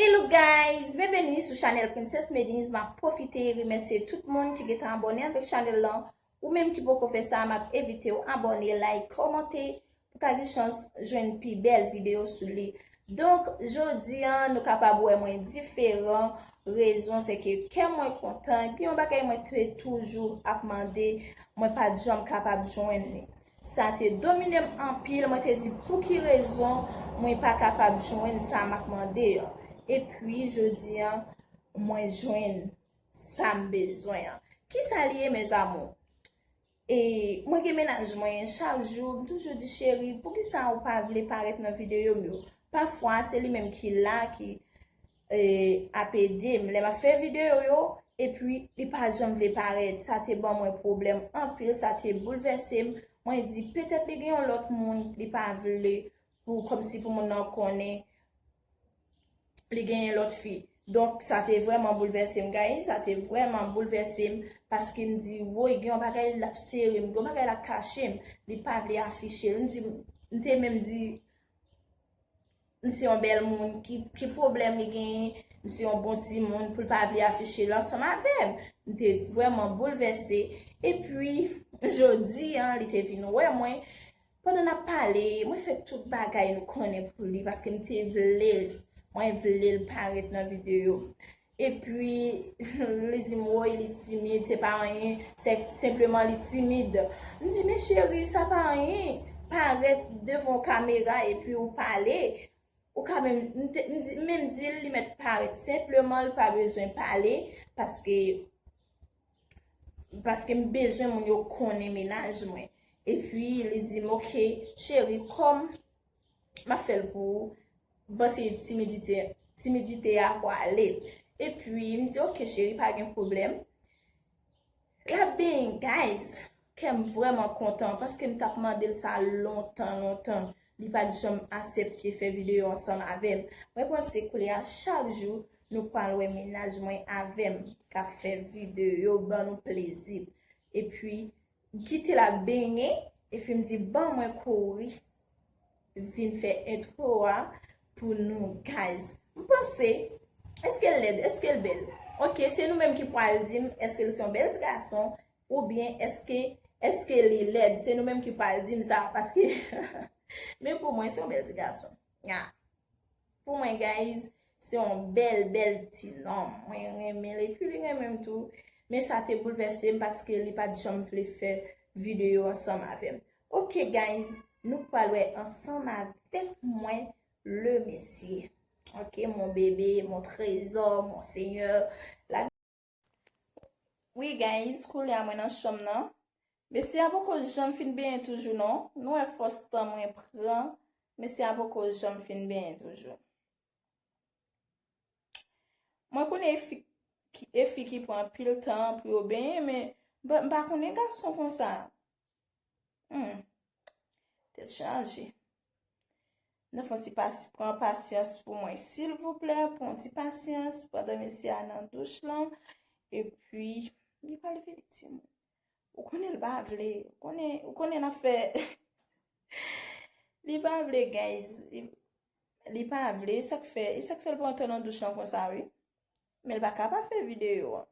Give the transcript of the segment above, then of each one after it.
Hello guys, byenveni sou chanèl Princess Medin's map pwofite remèsye tout moun ki gentan abòne avèk chanèl lan, ou menm ki poko fè sa map envitew abòne, like, kòmante pou ka gen chans jwenn pi bèl videyo sou li. Donk jodi an nou kapab wè mwen diferan, rezon se ke kè mwen kontan, gen yon bagay mwen te toujou ap mande mwen pat janm kapab jwenn li. Sa te domine m anpil, mwen te di pouki rezon mwen pa kapab jwenn sa m ap mande an. Epi, jodi an, mwen jwenn sa m bezwen an. Kisa li ye mezamou? E, mwen gen mennaj mwen, chak jou, m toujou di, cheri, poukisa ou pa vle parèt nan videyo m yo? Pafwa, se li menm ki la, ki. ap edem lè map fè video yo epi li pa janm vle parèt sa te ban mwen pwoblèm anpil sa te boulvèsem mwen di petèt li gen yon lòt moun li pa vle pou kòmsi pou moun nan konnen li genyen lòt fi donk sa te vrèman boulvèsem guys sa te vrèman boulvèsem paske m di woy gen yon bagay lap serem gen yon bagay lap kachem li pa vle afichel m di m te menm di. M se yon bèl moun ki pwoblèm li genyen? M se yon bon timoun pou l pa vle afiche l ansanm avè m? M te vrèman boulvèse. Epi, jodi an, li te vin wè mwen. Pandan n ap pale, mwen fè tout bagay nou konnen pou li paske m te vle l. Mwen vle l parèt nan videyo. Epi li di m woy li timid, se pa anyen, se senpleman li timid. M di men cheri sa pa anyen, parèt devan kamera epi ou pale, ou ka menm, m menm di l li mèt parèt senpleman li pa bezwen pale paske paske m bezwen moun yo konnen mennaj mwen. Epi li di m ok cheri kòm Map fè l pou ou. M panse timidite a pwale. E pwi m di ok cheri pa gen pwoblèm. La beny guys. Kè m vreman kontan. Paske m tap mande l sa lontan lontan. Li pat janm asepte fè video ansanm avèm. Mwen panse koulye a chak jou nou pwal wè menaj mwen avèm. Kap fè video ban nou plezi. E pwi Kite l ap benyen epi m di bon mwen kouri vin fè intro a pou nou guys. M panse eske l lèd eske l bèl? Ok se nou menm ki pral di m eske l se yon bèl ti gason oubyen eske eske li lèd se nou menm ki pral di m sa paske men pou mwen se yon bèl ti gason. Ya Pou mwen guys Se yon bèl bèl ti nonm Mwen renmen l epi li renmen m tou Men sa te boulvèse m paske li pat janm vle fè videyo ansanm avè m Ok guys Nou pral wè ansanm avèk mwen le mesye Ok mon bébé mon trésor mon seigneur La Wi guys koulye a mwen nan chanm nan. Mesye a poko janm fin benyen toujou non. Nou wè fòs tan mwen pran. Mesye a poko janm fin benyen toujou. Mwen konnen e fi ki pran anpil tan pou yo benyen men m pa konnen gason konsa. Humm. Tèt chaje. Nou fon ti pasi pran pasyans pou mwen silvouplè. Pon ti pasyans. Pandan mesye a nan douch lan. E pi. Li pal vini ti moun. Ou konnen l pa vle. Ou konnen la fè. Li pa vle guys. Li pa vle. E sak fè. E sak fè l pran tan nan douch lan konsa wi. Men l pa ka pa fè video an.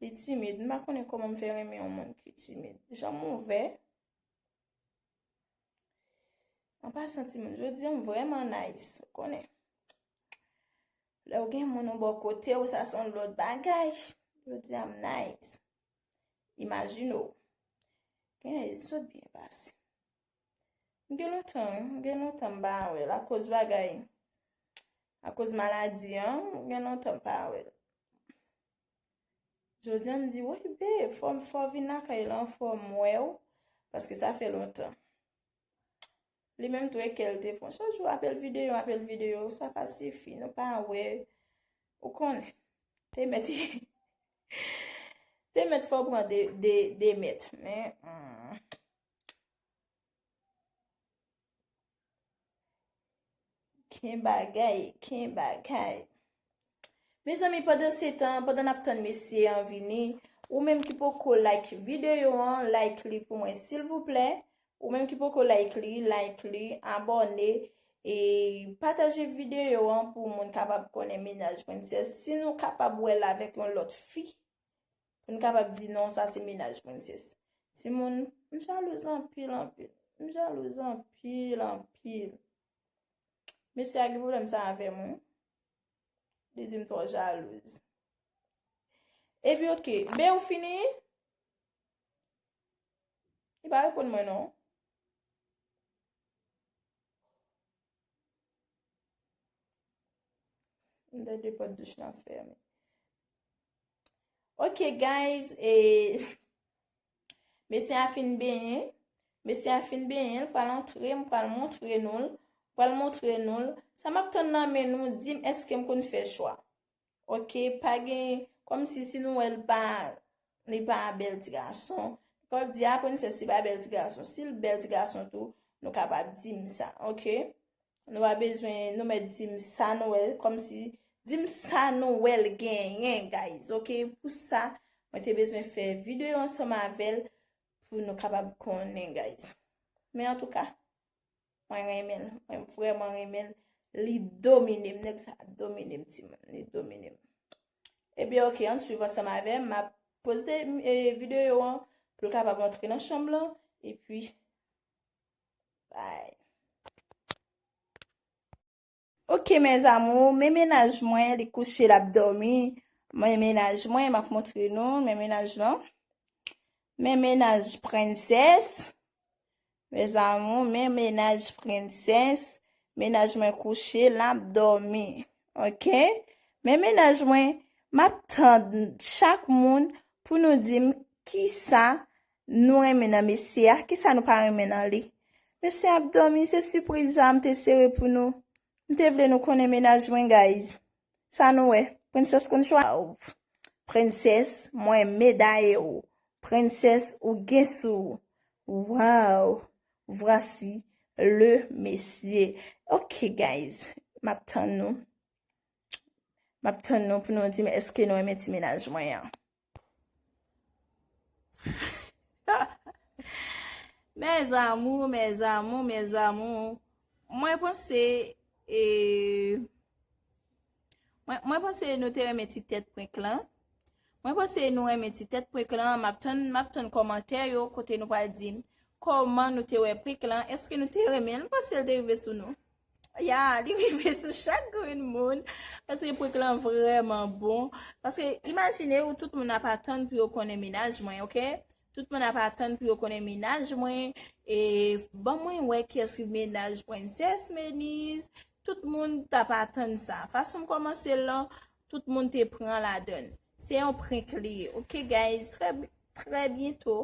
Li timid. M pa konnen kòman m fè renmen yon moun ki timid. Jan m ouvè. An pasan ti moun, jodi an m vrèman nice. Ou konnen. Lè ou gen moun ou bò kote ou sa son lòt bagay. Jodi an m nice. Imajine ou. Gen yon sot byen pase. Gen lontan wi, gen lontan m pa wèl akoz bagay, akoz maladi an, gen lontan m pa wèl. Jodi an m di woy bee, fò m fò vin lakay lan fò m wè w, paske sa fè lontan. Li menm tou e kè l te fon, chak jou apèl videyo, apèl videyo, sa pa sifi, nou pa wè, ou konnen. Te mèt, te mèt fò pran de mèt, men. Ken bagay, ken bagay. Mezanmi pandan se tan, pandan nap tann mesye an vini, ou menm ki poko like video an, like li pou mwen silvouplè. Ou menm ki poko like li, like li, abone, e pataje video an pou moun kapab konnen menaj mwen. Se si nou kapab wè l avèk yon lòt fi, Pou n kapab di non sa se mennaj mwen sis. Timoun, M jalouz anpil anpil. M jalouz anpil anpil. Mesye a gen pwoblèm sa avè m wi. Li di m twò jalouz. Epi ok, Ben ou fini? Li pa reponn mwen non. M tande pòt douch lan fèmen. Ok guys e Mesye a fin benyen Mesye a fin benyen l pral antre m pral montre nou l pral montre nou l sa map tann nan men nou di m eske m konn fè chwa ok pa gen kòm si si nou wè l pa li pa bèl ti gason kòm di a prensès li pa bèl ti gason si l bèl ti gason tou nou kapab di m sa ok. Nou pa bezwen nou mèt dim sa nou wè kòm si dim sa nou wèl genyen guys ok pou sa mwen te bezwen fè videyo ansanm avèl pou nou kapab konnen guys men an touka mwen renmen mwen vreman renmen li domine m nèg sa domine m ti moun li domine m e bi ok an swiv ansanm avèm ma poste videyo an pou l kapab antre nan chanm lan e pi Ok mes amour, men menaj mwen li kouche lap domi, men menaj mwen map montre nou, men menaj lan, men menaj prenses, mes amour, men menaj prenses, menaj mwen kouche lap domi, ok, men menaj mwen map tand chak moun pou nou dim kisa Nou renmen nan mesye a kisa nou pa renmen nan li mesye ap domi se sipriz sa m te sere pou nou m te vle nou konnen mennaj mwen guys sa nou wè princess konn chwa l princess mwen medaye w princess ou gen sou w waww vwasi le mesye ok guys map tann nou map tann nou pou nou di m eske nou renmen ti mennaj mwen an. Mes amour, mes amour, mes amour. Mwen panse e mwen panse nou te remen ti tèt prenk lan. Mwen panse nou remen ti tèt prenk lan. Map ton map ton komantè yo kote nou pa di koman nou te wè prenk lan. Eske nou te remen? Mwen panse l te rive sou nou. Ya, li rive sou chak grenn moun, paske prank lan vreman bon, paske imajine ou tout moun ap atann pou yo konnen menaj mwen, ok, tout moun ap atann pou yo konnen menaj mwen, e ban mwen wè kyes ki menaj prenses Meniz, tout moun tap atann sa, fason m komanse lan, tout moun te pran ladann. Se yon prenk li ye ok guys Trè byento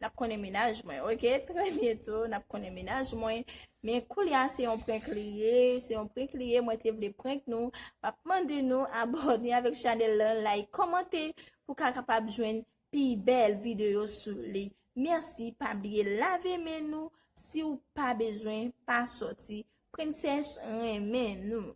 nap konnen mennaj mwen ok Trè byento nap konnen mennaj mwen Men koulya se yon prenk li ye Se yon prenk li ye mwen te vle prenk nou Map mande nou abòne avèk chanèl lan Like kòmante pou ka kapab jwenn pi bèl videyo sou li Mèsi pa bliye lave men nou Si ou pa bezwen pa sòti Princess renmen nou.